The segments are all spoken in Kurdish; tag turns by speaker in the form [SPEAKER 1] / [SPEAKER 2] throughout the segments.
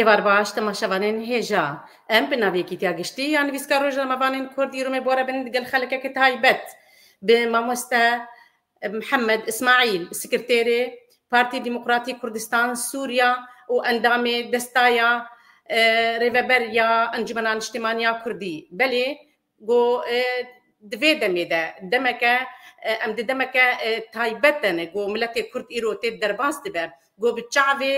[SPEAKER 1] Êvar baş temaşevanên hêja. Em bi navê Yekîtiya Giştî ya Nivîska Rojnamevanên Kurdî Rûmê bore bin digel xelekeke taybet bi mamoste Mihemed Îsmaîl, Sekreterê Partî Demokratîk Kurdistan Sûriya û endamê Destaya Rêveber ya Encumena Niştîmaniya Kurdî, belê Got, Di vê demê de demeke em di demeke taybet de ne. Got, Miletê Kurd îro tê derbas dibe. Got, Bi çavê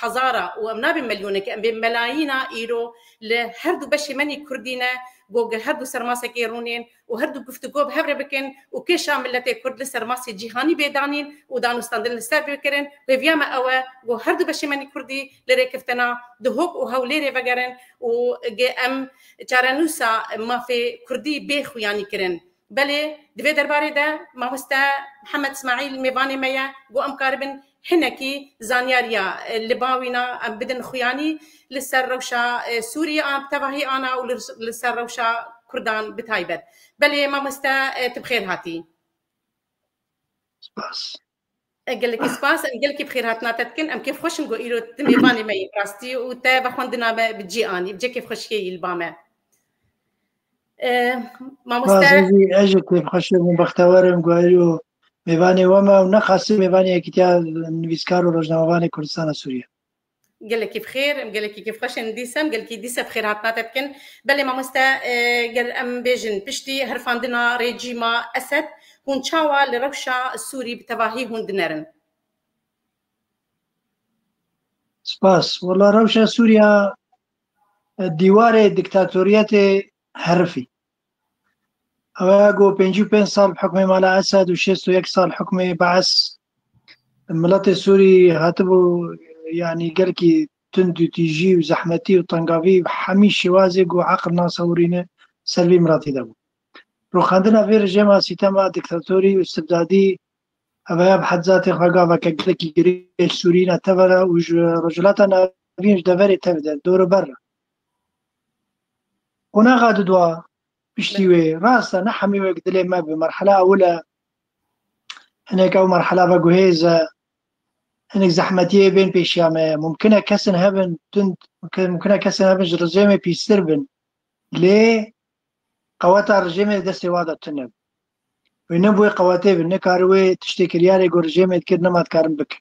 [SPEAKER 1] hezara û em nabê milyoneke em bê melayîna îro li her du beşê menî Kurdî ne. Got, Gel her du ser masekê rûnên û her du guftugo bi hev re bikin û kêşa miletê Kurd li ser masê cîhanî bê danîn û danûstandin li ser bê kirin. Hêviya me ew e got her du beşê menî Kurdî li rêkeftina Duhok û Hewlêrê vegerin û got, Em Çarenûsa mafê kurdî bê xuyanî kirin. Belê di vê derbarê de mamoste Mihemed Smaîl mêvanê me ye ku em karibin hinekî zanyariya li ba wî na em bidin xuyanî li ser rewşa Sûrî a bi tevahî ana û li ser rewşa kurdan bi taybet. Belê mamoste tu bi xêr hatî. Spas. Gelekî spas, em gelekî bi xêrhatina te dikin. Em kêf xweş in ku îro tu mêvanê me yî bi rastî û te ve xwendina me bi cî anî. Bi cî kêfxweşiyê yî li ba me. Mamoste. Ez jî kêfxweş im û bextewer im ku îro mêvanê we me û ne xasî mêvanê Yekîtiya Nivîskar û Rojnamevanê Kurdistana Sûriye. Gelekî bi xêr, em gelekî kêfxweşên dîsem, gelkî dîse bi xêr hatina te dikin. Belê mamoste e, ger em bêjin piştî herfandina rêjîma Esed, hûn çawa li rewşa Sûrî bi tevahî hûn dinerin? Spas. Wala rewşa Sûriya e, dîwarê diktatoriyetê herifî. Ew ê ku pêncî û pênc sal bi hukmê mala Esed û şêst û yek sal hukmê Baes miletê Sûrî hatibû yanî gelkî tund û tîjî û zehmetî û tengavî hemî şêwazê ku eqil nasewirîne ser vî miletî de bû. Rûxandina vê rejêma sîtema dîktatorî û îstibdadî eveya bi hed zatê xwe gaveke gelekî girê Sûrî ne tevere û ji Rojhilata Navîn ji deverê tevde dorober re. Qonaxa dudwa piştî wê rast e ne hemî wek dilê me bi merhela ewil e hinek ew merhela ve guhêz e hinek zehmetiyê bên pêşiya me mumkin e kesin hebin tund mumkin e kesin hebin ji rijêmê pîstir bin lê qeweta rijêmê di destê wa de tune wê ne bi wê qewetê bin nikari wê tiştê kiryarê ku rijêmê dikir nema dikarin bikin.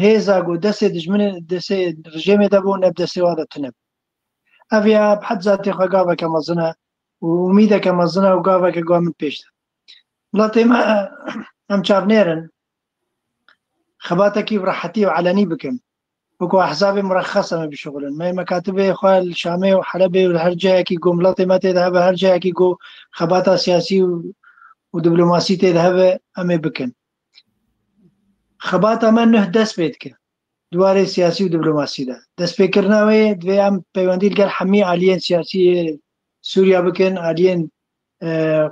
[SPEAKER 1] hêza ku destê dijminê destê rejêmê de bû ne bi destê wan de tune bû. Ev ya bi hed zatê xwe gaveke mezin e û umîdeke mezin e û gaveke guha min pêş de. Welatê me em çavnêr in xebatekî bi rehetî û elenî bikin. Wekî ehzabê murehes em ê bişuxulin. Me mekatibê xwe li Şamê û Helebê û li her cihekî ku welatê me tê de hebe her cihekî ku xebata siyasî û û diplomasî tê de hebe em ê bikin. Xebata me nuh dest pê dike di warê siyasî û diplomasî de. Destpêkirina wê yê divê em peywendî li gel hemî aliyên siyasî yê Sûriya bikin, aliyên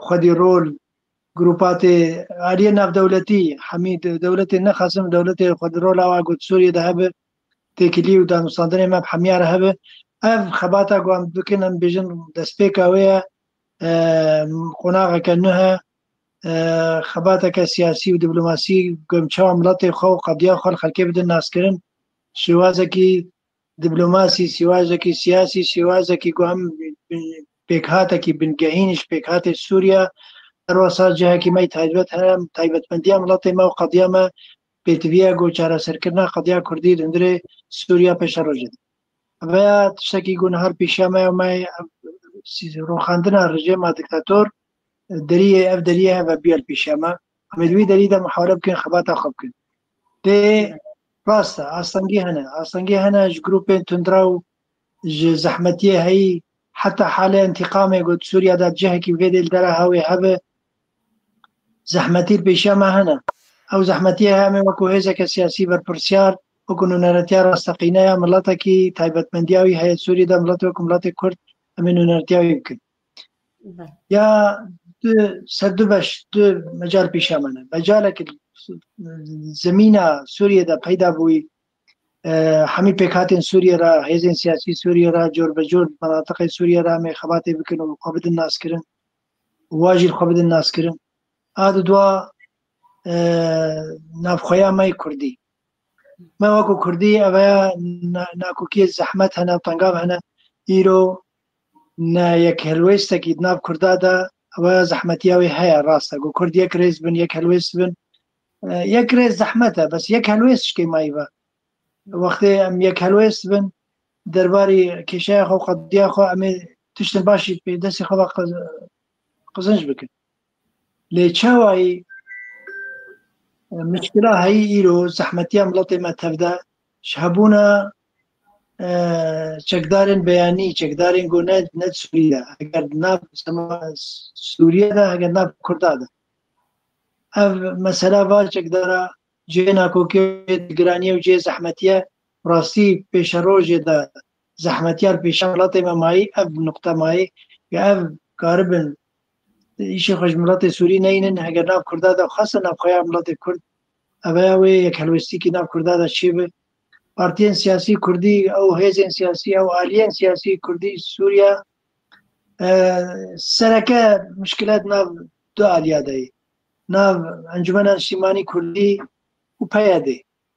[SPEAKER 1] xwedî rol, grûpatê, aliyên navdewletî, hemî dewletê nexasim dewletê xwedî rola wa got Sûriyê de hebe, têkilî û danûstandinê me bi hemiya re hebe. Ev xebata ku em bikin em bêjin destpêka wê ye, qonaxeke nuh e. xebateke siyasî û diplomasî gom çawa miletê xwe û qediya xwe li xelkê bidin naskirin şêwazekî diplomasî şêwazekî siyasî şêwazekî ku em pêkhatekî bingehîn ji pêkhatê Sûriya her wasa cihekî me taybet heye taybetmendiya miletê me û qediya me pêtiviya ku çareserkirina qediya Kurdî li hundirê Sûriya pêşa rojê de. Veya tiştekî ku nihar pêşiya me me rûxandina rejêma diktator Deriyê ev deriyê heve biyel pêşiya me. Em ê di wî derî de muhawere bikin, xebata xwe bikin. Dê rast e, astengî hene. Astengî hene ji grûpên tundra û ji zehmetiyê heyî heta halê entîqamê ku di Sûriya de cihekî vê dê li dera hewê hebe zehmetî li pêşiya me hene. Ew zehmetiyê heye em ê wekû hêzeke siyasî berpirsiyar, wekû nûneretiya rasteqîne ya miletekî taybetmendiya wî heye di Sûriyê de, miletê wekû miletê Kurd em ê nûneretiya wî bikin. Ya tu ser du beş tu mecal pêşa min e. Mecalek zemîna Sûriyê de peyda bûyî hemî pêkhatên Sûriyê re hêzên siyasî Sûriyê re cor bi cor menatiqê Sûriyê re em ê xebatê bikin û xwe bidin naskirin wa jî xwe bidin naskirin. A di dua navxweya me yê Kurdî. Me weko Kurdî ev heya nakokiyê zehmet hene tengav hene îro Ne yek helwêstekî di nav Kurda de ewe zehmetiya wê heye rast e ku Kurd yek rêz bin, yek helwêst bin. Yek rêz zehmet e bes yek helwêst şikê mayî be. Wextê em yek helwêst bin derbarî kêşeya xwe qediya xwe em ê tiştên baş jî pê destê xwe ve qizin jî bikin. Lê çawayî mişkila heyî îro zehmetiya miletê me tev de ji hebûna çekdarên beyanî, çekdarên ku ne ne Sûrî de heger nav Sûriye de heger nav Kurda de. Ev mesela va çekdara cihê nakokê giraniye û cihê zehmetiye rastî pêşe rojê de zehmetiyar pêşa miletê me mayî ev nokta mayî ev karibin Îşê xwe ji miletê Sûrî neynin heger nav Kurda de xweste navxweya miletê Kurd eveya wê yek helwestîkî nav Kurda de çêbi. Partiyên siyasî Kurdî ew hêzên siyasî ew aliyên siyasî Kurdî Sûriya sereke mişkilet nav du aliya deyî. Nav Encumena Niştîmanî Kurdî û PYD'ê.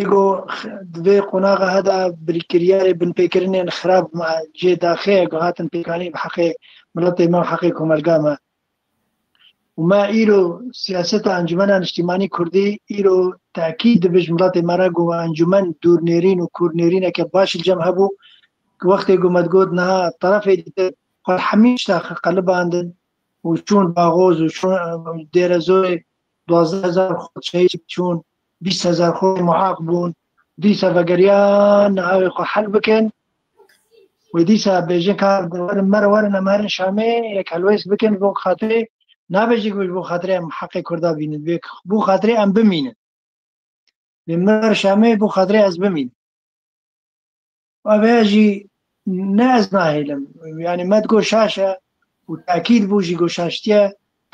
[SPEAKER 1] Ê ku di vê qonaxa he de birîkiryarê binpêkirinên xirab me jê daxê ku hatin pêkanîn bi heqê miletê me û heqê komelga me. Û me îro siyaseta Encûmena Niştîmanî Kurdî îro tekît dibe ji miletê me re ku encûmen dûrnêrîn û kûrnêrîneke baş li cem hebû ku wextê ku me digot niha terefê dîtin xwe li hemî tişta qelibandin û çûn Baxoz û çûn Dêrezorê duwazdeh hezar xwe şehîd çûn, bîst hezar xwe muaq bûn. Dîsa vegeriyan navê xwe hel bikin. Wê dîsa bêjin ka werin mer werin em herin Şamê yek helwês bikin ji bo xatirê nabê jî ji bo xatirê em heqê Kurda bînin. Bê bo xatirê em bimînin. Bê min ver Şamê bo xatirê ez bimînim. Avêya jî ne ez nahêlim. Yanî me digot şaş e û tekîd bû jî got şaştiye,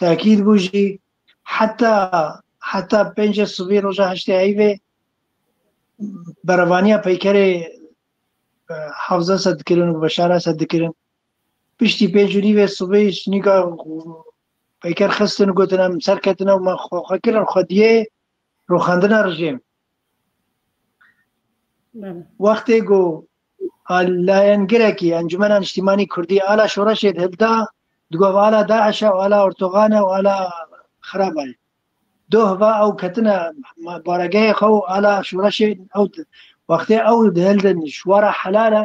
[SPEAKER 1] tekîd bû jî heta heta pêncê sibî roja heştê heyvê berevaniya peykerê hafza se dikirin û beşara se dikirin. Piştî pênc û nîvê sibî nîka peyker xistin û gotin em serketin ew me xwe kirin xwediyê roxandina rijêm. Wextê ku layengirekî Encumena Niştîmanî Kurdî ala şoreşê di hilda di got ala DAIŞ e û ala Erdogan e û ala xeraba ye. Doh va ew ketine baregehê xwe û ala şoreşê ew di. Wextê ew di hildin şwara helal e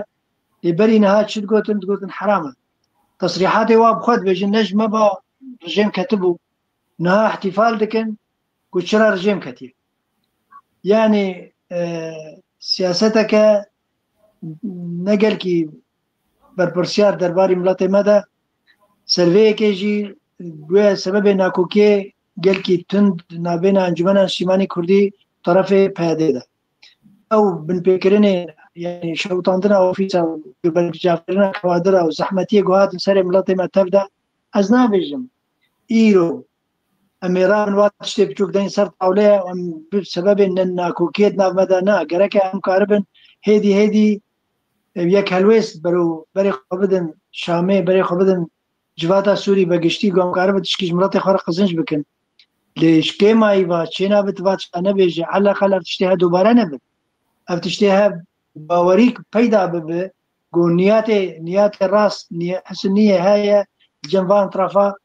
[SPEAKER 1] lê berî niha çi digotin digotin heram e. Tesrîhatê wa bi xwe dibêjin ne ji me ba rejêm ketibû niha îhtîfal dikin ku çira rijêm ketiye. Yanî siyaseteke ne gelkî berpirsiyar derbarî miletê me de servêyekê jî guya sebebê nakokiyê gelkî tund navbêna Encumena Niştîmanî Kurdî terefê PYDê de. Ew binpêkirinê yanî şewitandina ofîsa û gubergicavkirina kawadira û zehmetiyê ku hatin serê miletê me tev de ez nabêjim îro Em ê ra min vat tiştê biçûk deyin ser tawleye em bi sebebê nakokiyê di nav me de ne gereke em karibin hêdî hêdî yek helwêst bero berê xwe bidin Şamê berê xwe bidin civata Sûrî be giştî ku em karibin tişkî ji miletê xwe re qizinc bikin. Lê ji kêmayî va çêna bi tu va tişta nebêje eleqel ev tiştê he dubare nebin. Ev tiştê he bawerî peyda bibe ku niyatê niyatê rast hisi niyê heye di cem van trafa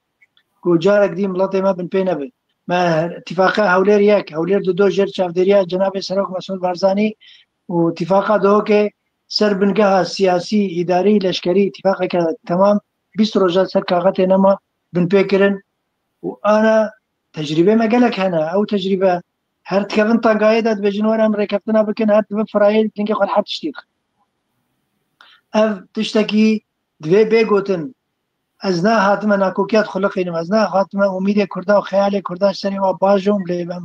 [SPEAKER 1] ku carek dî miletê me binpê nebe. Me Tîfaqa Hewlêr yek, Hewlêr di do jêr çavdêriya Cenabê Serok Mesûd Barzanî û Tîfaqa Duhokê ser bingeha siyasî, îdarî, leşkerî tîfaqeke temam bîst roja ser kaxetê nema binpê kirin û ana tecrîbê me gelek hene. Ew tecrîbe her dikevin tangayê de dibêjin were em rêkeftina bikin her dibe firayê dingê xwe li her tiştî dixin. Ev tiştekî divê bê gotin Ez ne hatime nakokiya dixuliqînim, ez ne hatime umîdê Kurda û xeyalê Kurda ji serê wan bajom lê em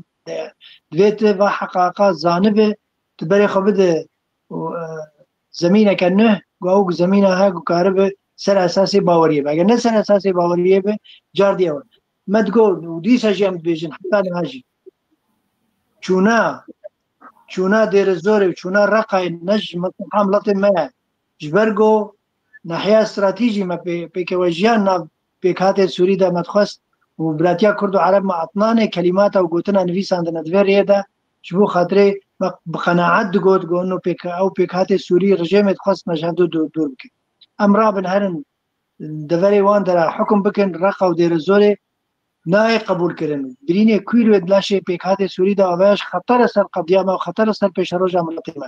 [SPEAKER 1] divê tu va heqaqa zanibê, tu berê xwe bide û zemîneke nû ku ew ku zemîna he ku karibe ser esasê baweriyê be. Eger ne ser esasê baweriyê be car dî ew e. Me digot û dîsa jî em dibêjin heta niha jî çûna çûna Dêrezorê û çûna Reqayê ne ji miletê me ye. Ji ber ku Nahiya stratîjî me pê pêkewejiya nav pêkhatên Sûrî de me dixwest û Biratiya Kurd û Ereb me atnanê kelîmata û gotina nivîsandine di vê rêyê de ji bo xatirê me bi qenaet digot gon û ew pêkhatê Sûrî rijêmê dixwest me ji hev du dûr bikin. Em rabin herin deverê wan de re hukm bikin Reqa û Dêrezorê nayê qebûlkirin. Birînê kûyî li laşê pêkhatê Sûrî de aveya ji xeter e ser qediya me û xeter e ser pêşeroja miletê me.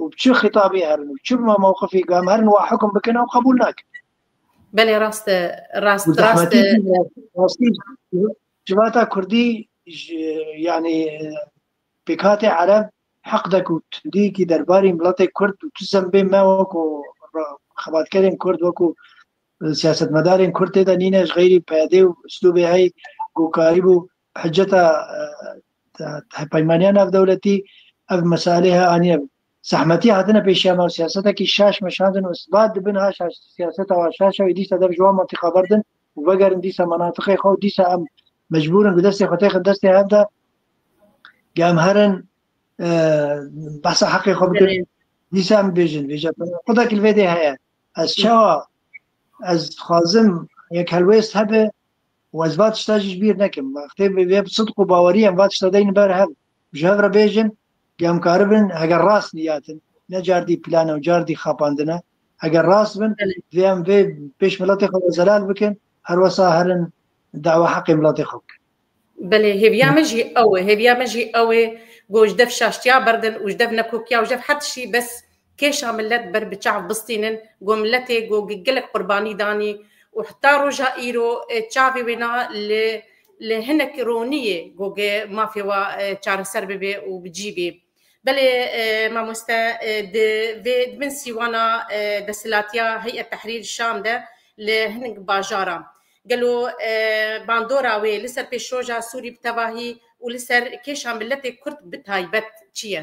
[SPEAKER 1] û bi çi xîtabî herin û çi ma mewqifî gam herin wa hukm bikin ew qebûl nakin. Belê rast e, rast Û rast zehmetî e. jî rastî civata Kurdî ji yanî pêkhatê Ereb heqdek û tundiyekî derbarî miletê Kurd û tu zembê me weko ra- xebatkerên Kurd weko e, siyasetmedarên Kurd tê de nîne ji xeyrî PYD û uslûbê hey ku karîbû Hiceta hevpeymanîya navdewletî ev meselê he aniye bi zehmetî hatine pêşiya me û siyasetekî şaş meşandin û isbat dibin ha şaş siyaseta wa şaş e wê dîsa dev ji wan mantîqa berdin û vegerin dîsa menatiqê xwe û dîsa em mecbûr in ku destê xwe têxin destê hev de ku em herin behsa heqê xwe bikin dîsa em bêjin vêje qudekî li vê dê heye ez çawa ez dixwazim yek helwêst hebe û ez va tişta jî ji bîr nekim. Wextê vê bi sidq û bawerî em va tişta deynin ber hev û ji hev re bêjin ku em karibin heger rast niyatin ne cardî plan e û cardî xapandin e heger rast bin vê em vê pêş miletê xwe ve zelal bikin her wesa herin dawa heqê miletê xwe bikin. Belê hêviya min jî ew e, hêviya min jî ew ê ku ji dev şaştiya berdin û ji dev nekokiya û ji dev her tiştî bes Kêşa milet ber bi çav bistînin, go miletê go gelek qurbanî danî û heta roja îro çavê wê na li li hinek roniyê go ge mafê wa çareser bibê û bi cî bê. Belê mamoste di vê di bin sîwana desthilatiya Heyet Tehrîr Şam de li hinek bajaran gelo bandora wê li ser pêşroja Sûrî bi tevahî û li ser kêşa miletê Kurd bi taybet çi ye?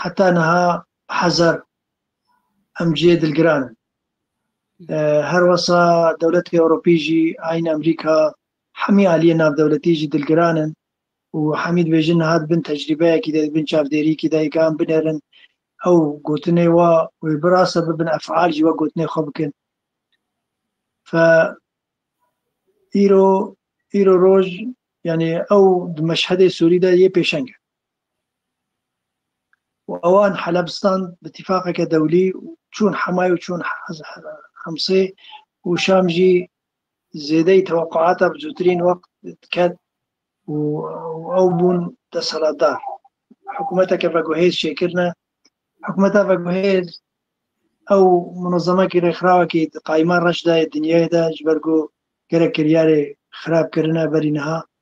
[SPEAKER 1] heta niha hezar em cihê dilgiran in. Her wesa dewletê Ewropî jî aynî Amerîka hemî aliyê navdewletî jî dilgiran in û hemî dibêjin niha di bin tecrîbeyekî de, di bin çavdêriyekî de ka em binêrin ew gotinê wa wê bi rast e bibin efal jî wek gotinê xwe bikin. Fe îro îro roj yanî ew di meşhedê Sûrî de yê pêşeng e. û ewan Helebistan bi tîfaqeke dewlî çûn Hemayê û çûn Himsê û Şam jî zêdeyî teweqûata bi zûtirîn wext diket û ew bûn desthilatdar. Hikûmeteke veguhêz çêkirine. Hikûmeta veguhêz ew munezemekî rêxirawekî di qayîma reş de yê dinyayê de ji ber ku gelek kiryarê xirab kirine berî niha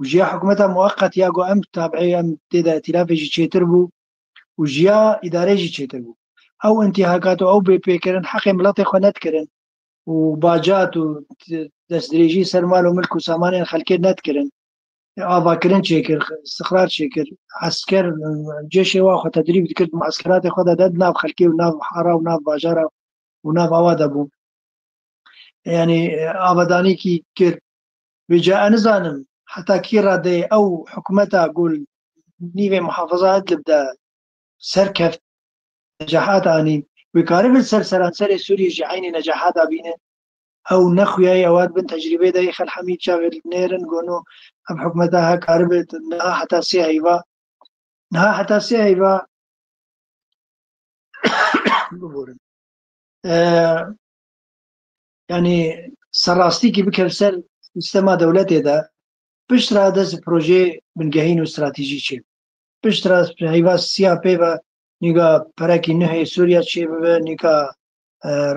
[SPEAKER 1] û ji ya hikûmeta mueqet ya ku em tabî em tê de îtîlafê jî çêtir bû û ji ya îdareyê jî çêtir bû. Ew întihakat û ew bêpêkirin heqê miletê xwe nedikirin û bacat û destdirêjî ser mal û milk û samanên xelkê nedikirin. Avakirin çêkir, stixrar çêkir, esker cêşê wan xwe tedrîb dikir, di mueskeratê xwe de de di nav xelkê û nav hara û nav bajara û nav awa de bû. Yanî avadanî kî kir, Wê caê nizanim heta kî radeyê ew hikûmeta ku li nîvê Muhafaza Idlib de serkeft necahat anî, wê karibin li ser seranserê Sûriyê jî eynî necahata bînin. Ew nexuyayî ewad bin tecrîbê de yê Xel Hemîd çavê li nêrin gonu ev hikûmeta he karibe niha heta sê heyva niha heta sê heyva biborin. Yanî serrastîkî bike li ser sîstema dewletê de pişt re dest bi projeyê bingehîn û stratejî çê bibe. Pişt re heyva siya pê be, nîka perekî nuh ê Sûriya çê bibe, nîka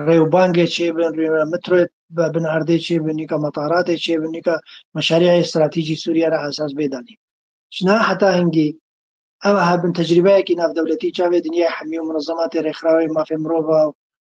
[SPEAKER 1] rêwbangê çê bin, nîka metroyê bi bin erdê çê bin, nîka metaratê çê bin, nîka meşarîeyê stratejî Sûriye re esas bê danîn. Ji na heta hingî ew hebin tecrîbeyekî navdewletî çavê dinyayê hemî û minezematê rêxirawê mafê mirov a û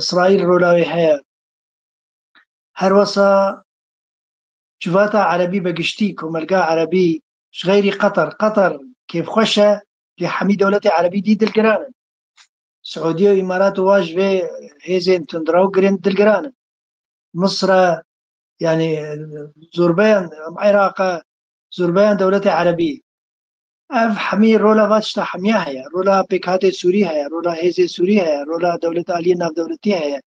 [SPEAKER 1] Îsraîl rola wê heye. Her wasa civata Erebî bi giştî komelga Erebî ji xeyrî Qatar Qatar kêfxweş e lê hemî dewletê Erebî dî dilgiran in. Siûdî û Îmarat û wa ji vê hêzên tundrew girên dilgiran in. Misr e yanî zorbeyan Îraqa zorbeyan dewletê Erebî. Ev hemî rola va tişta hemiya heye. Rola pêkhatê Sûrî heye, rola hêzê Sûrî heye, rola dewlet aliyê navdewletî heye.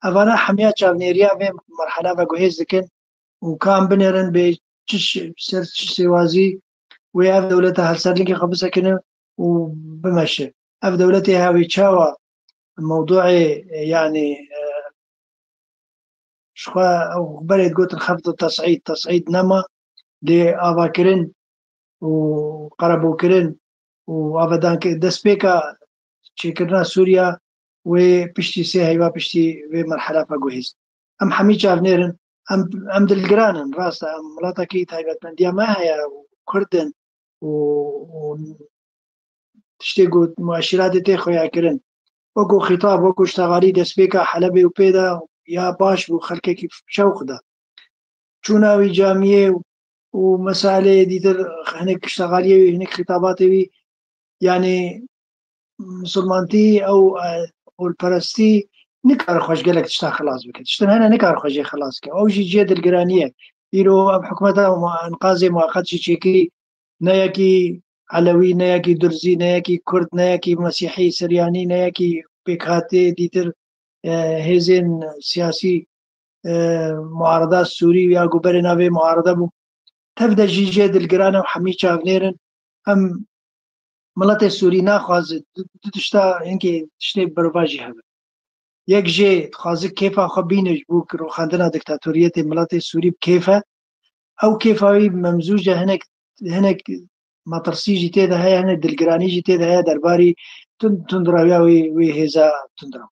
[SPEAKER 1] Evana hemiya çavnêriya vê merhela ve guhêz dikin û kam binêrin bê çi ser çi sêwazî wê ev dewleta hevserlingê xwe bisekine û bimeşe. Ev dewletê he wê çawa mewduê yanî ji xwe ew berê digotin xefd û tesîd, tesîd nema lê avakirin û qerebûkirin û avedanki destpêka çêkirina Sûriya wê piştî sê heyva piştî vê merhela xwe guhîst. Em hemî çavnêr in, em em dilgiran in. Rast e em welatekî taybetmendiya me heye û Kurd in û û tiştê ku mueşîratê tê xuyakirin. Wekû xîtab, wekû ştegalî destpêka Helebê û pê de ya baş bû xelkekî şewq da. Çûna wî camiyê û û meseleyê dîtir hinek kiştegaliyê wî hinek xîtabatê wî yanî misilmantî ew holperestî nikare xweş gelek tişta xilas bike tiştin hene nikare xwe jê xilas ke ew jî ciyê dilgiraniye îro ev hikûmeta enqazê muqet jî çêkî ne yekî elewî ne yekî durzî ne yekî kurd ne yekî mesîhî siryanî ne yekî pêkhatê dîtir hêzên siyasî muarada Sûrî ya ku berê navê muarada bû tev de jî jê dilgiran ew hemî çavnêrin em miletê Sûrî naxwazi du tişta hinkê tiştê birva jî hebe yek jê dixwazi kêfa xwe bîne ji bo rûxandina diktatoriyetê miletê Sûrî bi kêfe ew kêfa wî memzûje hinek hinek matirsî jî tê de heye hinek dilgiranî jî tê de heye derbarî tundirawiya wê wê hêza tundiraw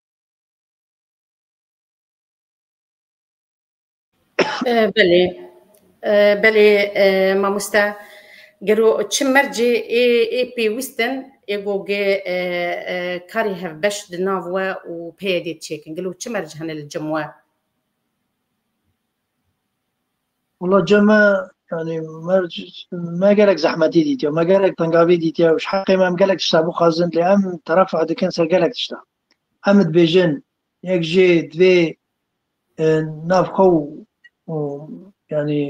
[SPEAKER 1] Belê belê mamoste gero çi mercê ê ê pêwîst in ê gogê karê hevbeş di nav we û peyedê çêkin gelo çi merc hene li cem we? Wala ceme yani merc me gelek zehmetî dîtiye me gelek pengavî dîtiye û ji heqê me em gelek tişta bixwazin lê em terefa dikin ser gelek tişta em dibêjin Yek jê divê nav xwe û yanî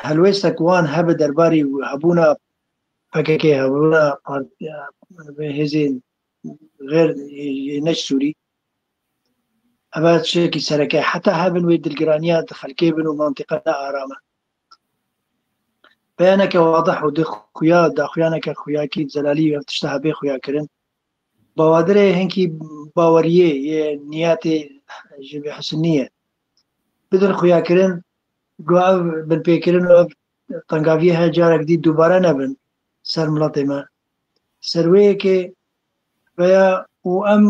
[SPEAKER 1] helwêstek wan hebe derbarî hebûna PKK, hebûna hêzên غير neç Sûrî. Eva çekî sereke heta hebin wê dilgiraniya di xelkê bin û mantiqa ne arame. Beyaneke wadih û di xuya daxuyaneke xuyakî Zelalî ev tişta hebê xuyakirin Bawadirê hinkî baweriyê yê niyetê ji vê hisnî ye. Bidin xuyakirin ku ev binpêkirin û ev tengaviyehê carek dî dubare nebin ser miletê me. Serwêyekê veya û em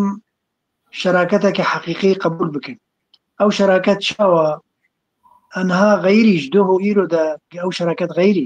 [SPEAKER 1] şeraketeke heqîqî qebûl bikin. Ew şeraket çawa? Enha xeyrî ji doh û îro de ew şeraket xeyrî.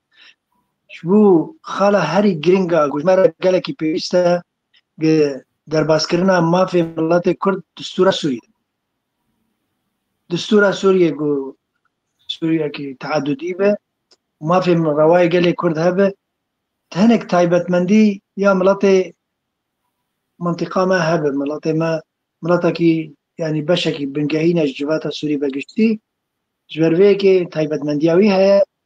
[SPEAKER 1] Ji bo xala herî girîng a ku ji me re gelekî pêwîst e gi derbaskirina mafê miletê Kurd distûra Sûriyê. Distûra Sûriyê ku Sûriyekî teedûdî be, mafê rewayê gelê Kurd hebe, di hinek taybetmendî ya miletê mintiqa me hebe, miletê me miletekî yanî beşekî bingehîn e ji civata Sûrî ve giştî, ji ber vê yekê taybetmendiya wî heye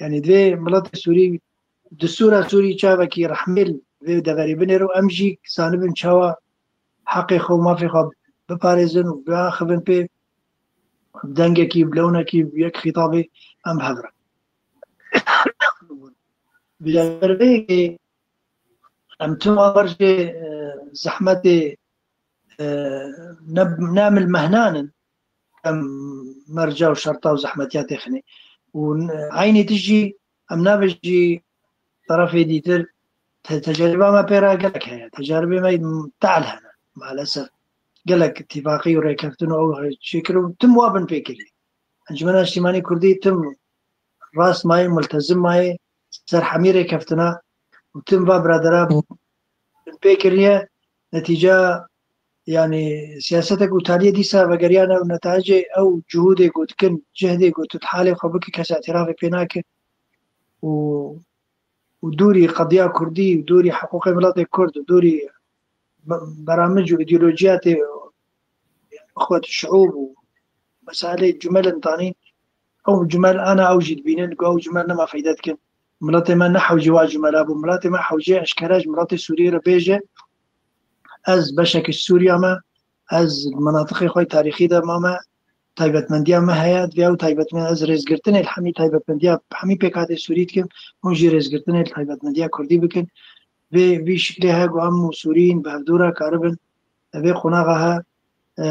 [SPEAKER 1] Yani divê miletê Sûrî distûra Sûrî çavekî rehmêl vê deverê binêr û em jî zanibin çawa heqê xwe mafê xwe biparêzin û biaxivin pê dengekî bilewinekî yek xîtabê em hevrin. Bileverveyekê em tim avar jê zehmetê nemil mehnanin Em merca û şerta û zehmetiya tê xinê û eynî tişt jî em nabêjin jî tarafê dîtir teceriba me pê re gelek heye. Teceribê me te'el hene malesef. Gelek tîfaqî û rêkeftin û ew çêkir û tim wa bin pê kirî. Encumena Niştîmanî Kurdî tim rast mayê, multezim mayê ser hemî rêkeftina û tim va biradera bin pê kiriye netîca Yanî siyasete ku Taliyê dîsa vegeriyane ew netecê ew cihûdê ku dikin cihdê ku tu di halê xwe bikî kes îtirafê pê nake û û dûrî qediya kurdî û dûrî hiqûqê miletê kurd û dûrî beramij û îdeolojiya tê xwet şiûb û meselê cumelin tanî ew cumel ana ew jî dibînin ku ew cumel nema feyde dikin miletê me ne hewcê wa cumela bû miletê me hewcê eşkere ji miletê Sûriyê re bêje Ez beşekî Sûriya me, ez menatiqê xwe tarîxî de mame, taybetmendiya me heye divê ew taybetmen ez rêzgirtinê hemî taybetmendiya hemî pêkatê Sûrî dikim hûn jî rêzgirtinê taybetmendiya Kurdî bikin. Vê vî şiklê he ku em û Sûrîn bi hevdû re karibin vê qonaxa he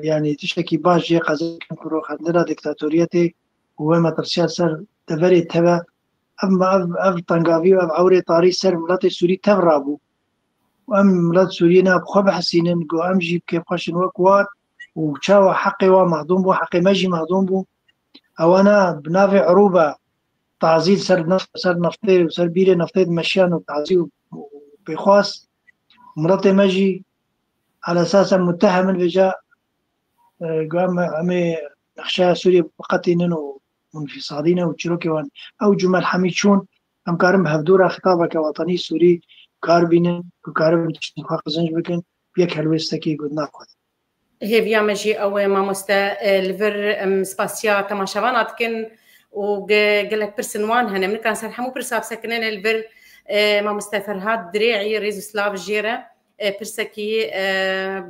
[SPEAKER 1] yanî tiştekî baş jê qezekin ku roxendina diktatoriyetê û wê metirsiya ser deverê teve ev ev tengavî ev ewrê tarî ser miletê Sûrî tev rabû. Em milet Sûriyê ne bi xwe bihesînin ku em jî bi kêf xwe şin wek war û çawa heqê wan mehdûm bû, heqê me jî mehdûm bû. Ewa ne bi navê erûba tazî li ser neft ser neftê û ser bîrê neftê di meşiyan û tazî û pêxwas miletê me jî ala esas em mutehem in vêca ku em emê nexşeya Sûriyê biqetînin û û nifîsadîne û çîrokê wan ew cumel hemî çûn Em karin bi hevdora xitabeke watanî Sûrî kar bînin ku karibin tiştên xwe qizinc bikin, yek helwêstekî got naxwazin. Hêviya me jî ew e mamoste. Li vir em spasiya temaşevan a dikin û gelek pirsin wan hene. Min nikarin ser hemû pirsa bisekinê lê li vir mamoste Ferhad Dirê'î rêz û silav jêre. Pirsekî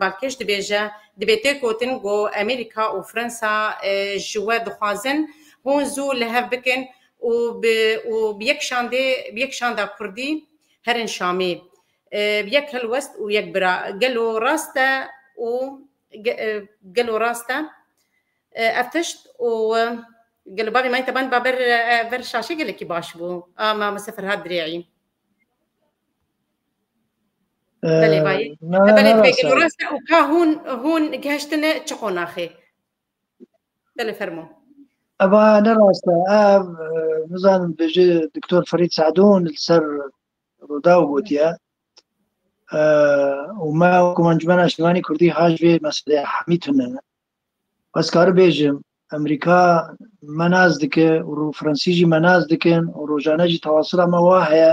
[SPEAKER 1] Balkêş dibêje, Dibê tê gotin ku Amerîka û Fransa ji we dixwazin hûn zû li hev bikin û bi û bi yek şandê bi yek şanda kurdî herin Şamê. Bi yek helwest û yek bira. Gelo rast e û gelo rast e ev tişt û gelo bavê Mayîn Teban ba ber ber şaşê gelekî baş bû a Mamoste Ferhat Dirê'î. Belê bayê. Belê pêk rasta û ka hûn hûn geştine çi qonaxê. Belê fermo. Eva ne rasta ev nizanim bêje Doktor Ferîd Sadûn li ser Rûdaw gotiye û me wekû Encûmena Şîvanî Kurdî haş vê meselê hemî tune ne. Ez kari bêjim Emerîka me nas dike û Fransî jî me nas dikin û rojane jî tewasila me wa heye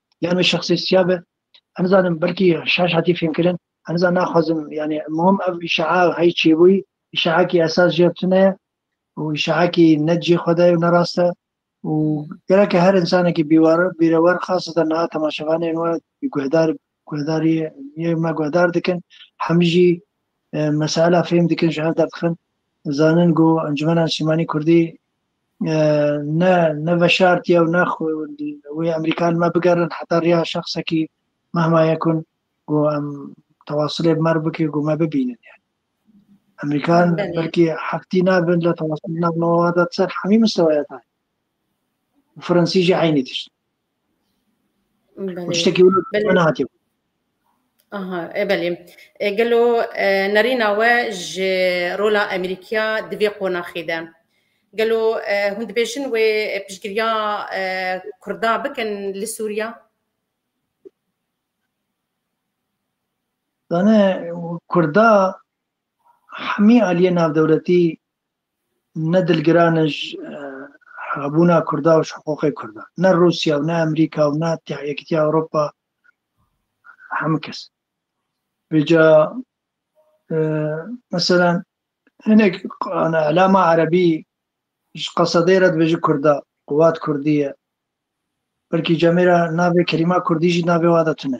[SPEAKER 1] yan wê şexsê siya be em zanim belkî şaş hatî fêmkirin em zan naxwazim yani muhim ev îşeha hey çêbûyî îşehakî esas jê tune û îşehakî ne cê xwe de ne rast e û gereke her insanekî bîwar bîrewar xaseten niha temaşevanên we guhdar guhdarî yê me guhdar dikin hem jî mesela fêm dikin ji hev derdixin zanin ku encumena Sîmanî Kurdî ne ne veşartiye û ne wê Emerîkan me bigerin heta riya şexsekî mehma yekun ku em tewasilê bi mer bike ku me bibînin yani. Emerîkan belkî heftî nabin li tewasilina nova de ser hemî mistewaya tayê. Fransî jî eynî tişt. Tiştekî nehatiye. Aha, e belê. E, gelo e, nerîna we ji rola Amerîkiya di vê qonaxê de. Gelo e, hûn dibêjin wê piştgiriya e, Kurda bikin li Sûriya? Dane Kurda hemî aliyê navdewletî Ne dilgiran e ji hebûna Kurda û ji hiqûqê Kurdan. Ne Rûsya û ne Amerîka û ne Yekîtiya Ewropa hemû kes. Vêca mesela hinek elama Erebî ji qesedê re dibêje Kurda, quwat Kurdî ye. Belkî cemê re navê kelîma Kurdî jî navê wan de tune.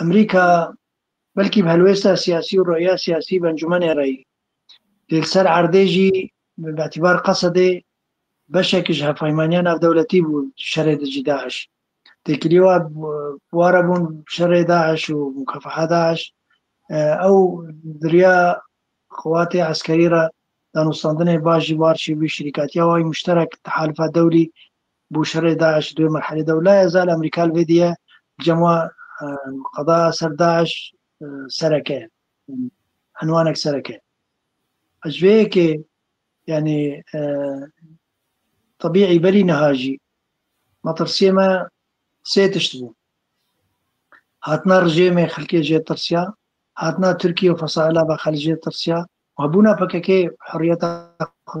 [SPEAKER 1] Amerîka belkî bi helwêsta siyasî û roya siyasî bi encûmenê re yî. Lê li ser erdê jî bi betîbar Qesedê beşekî ji hevpeymaniya navdewletî bû şerê dijî DAIŞ. Têkilî wa ware bûn şerê DAIŞ û Mukafeha DAIŞ. Ew di riya xelatê eskerî re danûstandinê baş jî bar çêbû. Şirîkatiya wayî muşterek, tehalifa dewlî Bo şerê DAIŞ duê merhelê de û la ez al Amerîka li vê diye cem wa qada ser DAIŞ sereke enwanek sereke. Ez ji vê yekê yanî tebîî berî niha jî metirsiyê me sê tişt bû. Hatina rijêmê xelkê jê tirsiya, hatina Tirkiye û fesaîla ve xelk jê tirsiya û hebûna PKK'ê heriyeta xwe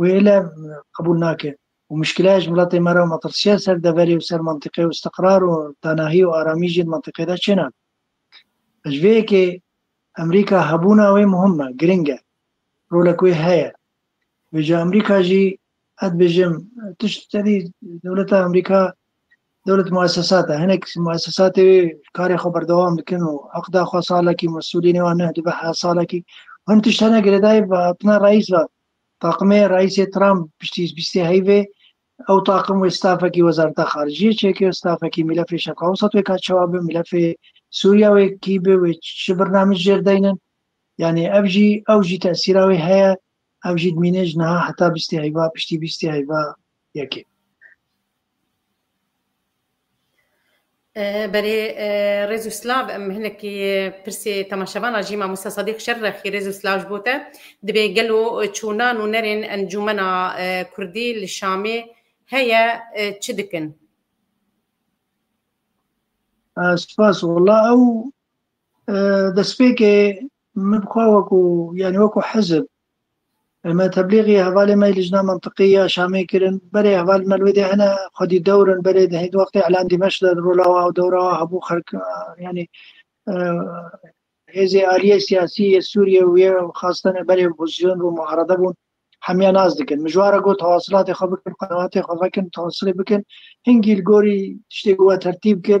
[SPEAKER 1] Wê lev qebûl nake û muşkîleya ji miletê me re û metirsiya ser deverê û ser mentiqê û îstiqrar û tenahî û aramî jî di mentiqê de çênabe. Ji vê yekê Amerîka hebûna wê muhim e, giring e. Rolek wê heye. Vê ca Amerîka jî ez dibêjim tişt tedî dewleta Amerîka dewlet muessesat e. Hinek muessesatê wê karê xwe berdewam dikin û eqda xwe salekî mesûlînê wan neh dibe heh salekî. Hin tişt hene girêdayî bi hatina reîs ve Taqimê Reîsê Trump piştî bîst ê heyvê ew taqim wê stafekî wezareta xarijiyê çêkir, stafekî mîlefê Şerqa Ewsat wê ka çawa bi mîlefê Sûriya wê kî bi wê çi birnamij jêr deynin. Yanî ev jî ew jî tesîra wê heye. Ev jî dimîne ji niha heta bîst ê heyva piştî bîst ê heyva yekê. Berê rêz û silav em hinekî pirsê temaşevan a jî mamosta Sedîq Şerrexî rêz û silav ji bo te dibê gelo çûnan û nerên encûmena kurdî li Şamê heye çi dikin? Spas wala ew destpêkê Min bi xwe wekû yanî wekû hizib me teblîxî hevalê me Lijna Mintiqî ya Şamê kirin. Berê hevalên me li wê dê hene xwedî dewr in berê di hêdî wextê Îlan Dîmeş de di rola wa û dewra wa hebû xelk yanî hêzê aliyê siyasî yê Sûriyê û yê xastene berê opozîsyon bûn muarede bûn hemiya nas dikin. Mijwara got hewasilatê xwe bikin, qenaatê xwe vekin, tawasilê bikin. Hingî li gorî tiştê ku we tertîb kir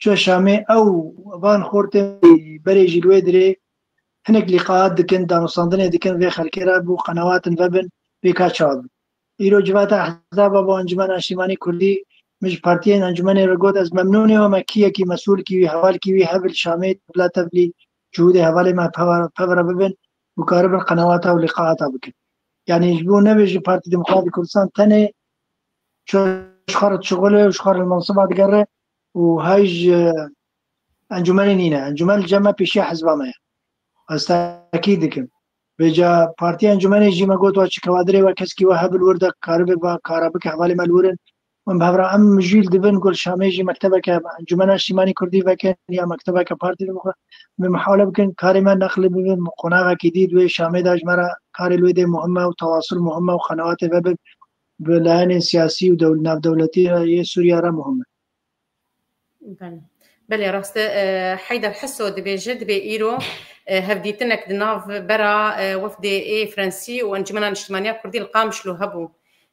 [SPEAKER 1] Çûye Şamê ew van xortên berê jî li wê dirê hinek lîqaat dikin, danûstandinê dikin vê xelkê re bo qenewatin vebin vê ka çawa bin. Îro civata Ehzaba bo Encumena Niştîmanî Kurdî min ji partiyên encûmenê re got ez memnûn im me kî yekî mesûl kî wî heval kî wî hev li Şamê tevla tevlî cihûdê hevalê me pev re bibin û karibin qenewata û lîqaata bikin. Yanî ji bo nebe ji Partî Demokratî Kurdistan tenê ji xwe re dişuxile û ji xwe re li mensiba digere û hay ji encûmenê nîne. Encûmen li cem me pêşiya hizba me ye. Ez tekît dikim. Vêca partiya encûmenê jî me got wa çi kewadirê we keskî we hebil wir de karibe va kara bike hevalê me li wir in. Min bi hevra em mijûl dibin ku li Şamê jî mektebeke encûmena niştîmanî kurdî vekin ya mektebeke partî li bixwe me mihawle bikin karê me neqlî bibin bi qonaxekî dî di wê Şamê de ji me re karê li wê dê muhim e û tewasul muhim e û xenewatê ve bi bi layenên siyasî û navdewletî yê Sûriya re muhim e. Belê rast e. Heyder Heso dibêje, dibê îro hevdîtinek di nav bera wefdê ê Frensî û Encumena Niştimaniya Kurdî li Qamişlo hebû.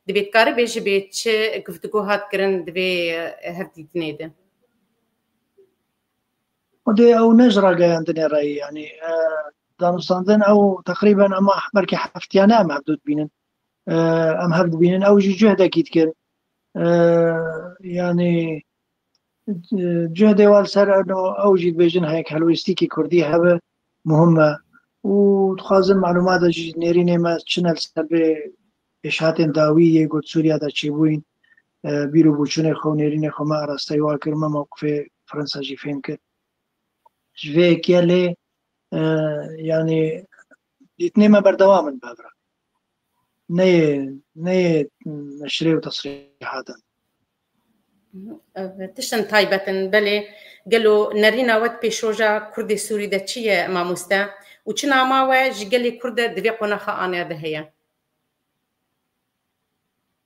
[SPEAKER 1] Dibê dikaribê ji bê çi guftgo hat kirin di vê hevdîtinê de? Xwedê ew ne ji rageyandinê re ye. Yanî danûstandin ew teqrîben ema belkî heftiyane em hevdu dibînin. em hev dibînin ew jî cühdekî dikir yanî cühdê wal ser eno ew jî dibêjin hek helwêstîkî kurdî hebe muhim me û dixwazin malûmata jî nêrînê me çin el ser bê pêşhatên dawî yê got Sûriya de çêbûyîn bîr û bûçûnê xwe û nêrînê xwe me arasteyî wa kir me mewqifê Fransa jî fêm kir ji vê yekê lê yanî Dîtinê me berdewam in bevra. Neyê neyê neşrê û tesrîhatin. Tiştin taybetin belê gelo nerîna wet pêşroja Kurdê Sûrî de çi ye mamoste û çi nama we ji gelê Kurd de di vê qonaxa anêya de heye?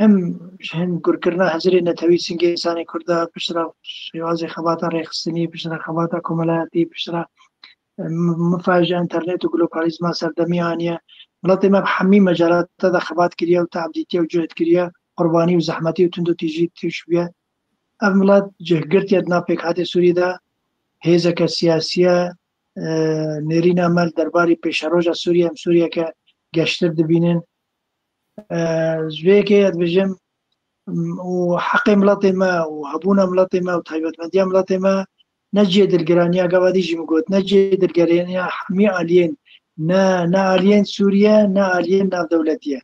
[SPEAKER 1] Hem ji hingurkirina hezirê netewî singê însanê Kurd de piştre şêwazê xebata rêxistinî, piştre xebata komelayatî, piştre mifa ji înternet û globalizma serdemî aniye. Welatê me bi hemî mecelata de xebat kiriye û tehdîtiye û cuhd kiriye, qurbanî û zehmetî û tundotîjî tûş bûye. Ev milat cihgirtiye di nav pêkhatê Sûrî de hêzeke siyasîye nêrîna me li derbarî pêşeroja Sûrî em Sûrîyeke geştir dibînin. Ji vê yekê ez dibêjim û heqê miletê me û hebûna miletê me û taybetmendiya miletê me ne cihê dilgiraniya gavadî jî min got ne cihê dilgiraniya hemî aliyên ne ne aliyên Sûriye ne aliyên navdewletiye.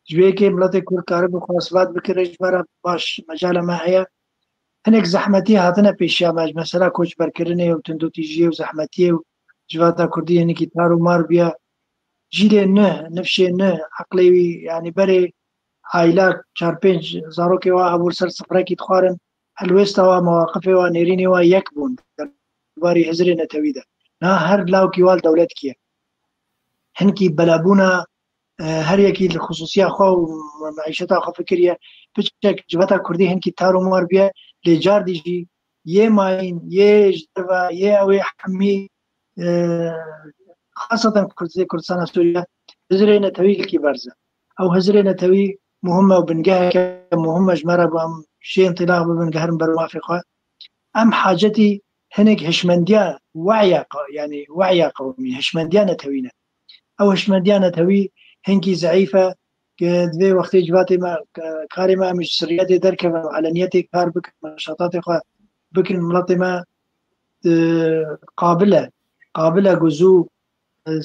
[SPEAKER 1] Ji vê yekê miletê Kurd karibû xwe isbat bike rê ji bera baş mecala me heye. Hinek zehmetî hatine pêşiya me ji mesela koçberkirinê û tundotîjiyê û zehmetiyê û civata Kurdî hinekî tar û mar bûye. Cîrê nuh, nifşê nuh, eqlê wî yanî berê aîla çar pênc zarokê wa hebûn ser sifrekî dixwarin, helwêsta wa, mewaqifê wa, nêrînê wa yek bûn der barî Hizirê Netewî de. Niha her lawkî wa li dewletkî ye. Hinkî belebûna her yekî li xisûsîya xwe û meîşeta xwe fikir ye. Piçek civeta kurdî hinkî tar û mar bûye lê cardî jî yê mayîn, yê ji derve, yê ewê hemî hasatan Kurdê Kurdistana Sûriye hizirê netewî yekî berz e. Ew hizirê netewî muhim e û bingeheke muhim e ji me re bi em şê întilaq bibin geherin ber mafê xwe. Em hacetî hinek hişmendiya weya yanî weya qewmî hişmendiya netewî ne. Ew hişmendiya netewî hinkî zeîf e ke divê wextê civatê me karê me em ji sirriyetê derkevin û eleniyetê kar bikin şatatê xwe bikin miletê me qabil e. Qabil e ku zû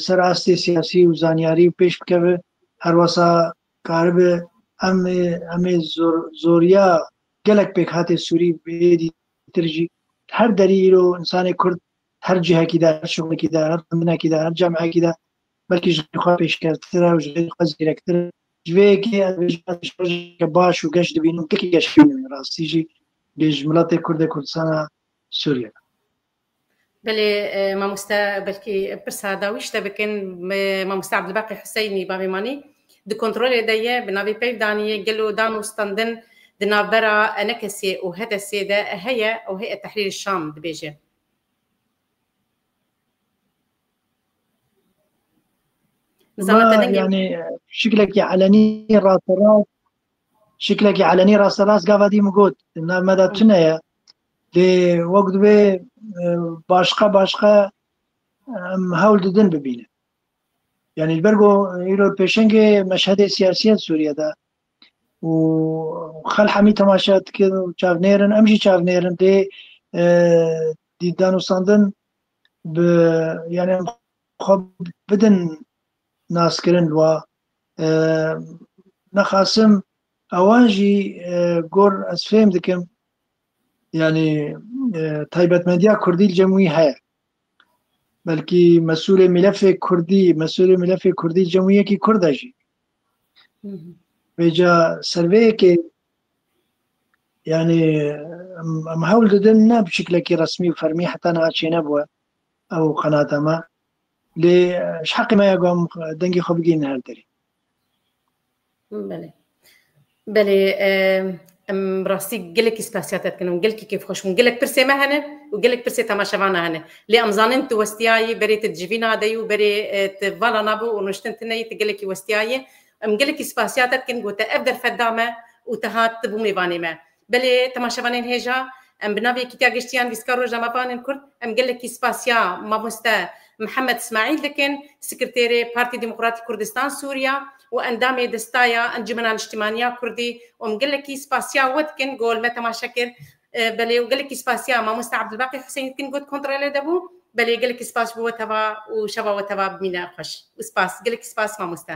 [SPEAKER 1] ser astê siyasî û zanyarî û pêş bikeve. Her wasa karibe em em ê zor zoriya gelek pêkhatê Sûrî bêdî tir jî her derî îro insanê Kurd her cihekî de her şixulekî de her xwendinekî de her cemekî de belkî ji xwe pêşkevtir e û ji xwe zêrektir e. Ji vê yekê ez rojeke baş û geş dibînim gelkî geş rastî jî bê ji miletê Kurd e Kurdistana Sûriyê de. Belê mamoste belkî pirsa da wî şte bikin mamoste Abdulbaqî Huseynî bavê manî di kontrolê de ye bi navê peyv danîyê gelo dan û standin di navbera enekesê û hedesê de heye û heyet tehrîrê şam dibêje. yani şiklekî elenî rasterast şiklekî elenî rasterast gava dî min got navmeda tune ye Lê wek divê başqa başqa em hewl didin bibînin. Yani li ber ku îro pêşengê meşhedê siyasî ye Sûriye de û xelq hemî temaşe dikin û çavnêrin em jî çavnêrin lê dî danûstandin bi yani em xwe bidin naskirin li wa nexasim ewan jî gor ez fêm dikim yani taybetmendiya Kurdî li cem wî heye. Belkî mesulê milefê Kurdî, mesulê milefê Kurdî li cem wî yekî Kurd e jî. Vêca serveyekê yani em hewl didin ne bi şiklekî resmî û fermî heta niha çênebûye ew qenata me. Lê ji heqê me ye ku em dengê xwe bigihînin her derê. Belê. Belê em rastî gelekî spasiya te dikin û gelkî kêf xweş bûn. Gelek pirsê me hene û gelek pirsê temaşevana hene. Lê em zanin tu westiyayî berê tu civîna de yî û berê tu vala navê û nuştin tune yî tu gelekî westiyayî. Em gelekî spasiya te dikin ku te ev derfet da me û te hat tu bû mêvanê me. Belê temaşevanên hêja em bi navê Kîtya Giştiyan Lîstika Rojnamevanên Kurd em gelekî spasiya Mamoste Mihemed Smaîl dikin, Sekirtêrê Partî Demokratîk Kurdistan Sûriya û endamê Destaya Encûmena Niştimaniya Kurdî û em gelekî spasiya we dikin gol me temaşe kir belê û gelekî spasiya Mamoste Abdulbaqî Huseyîn dikin got kontrelê de bû belê gelekî spas bo we teva û şeva we teva bimîne xweş û spas gelekî spas mamoste.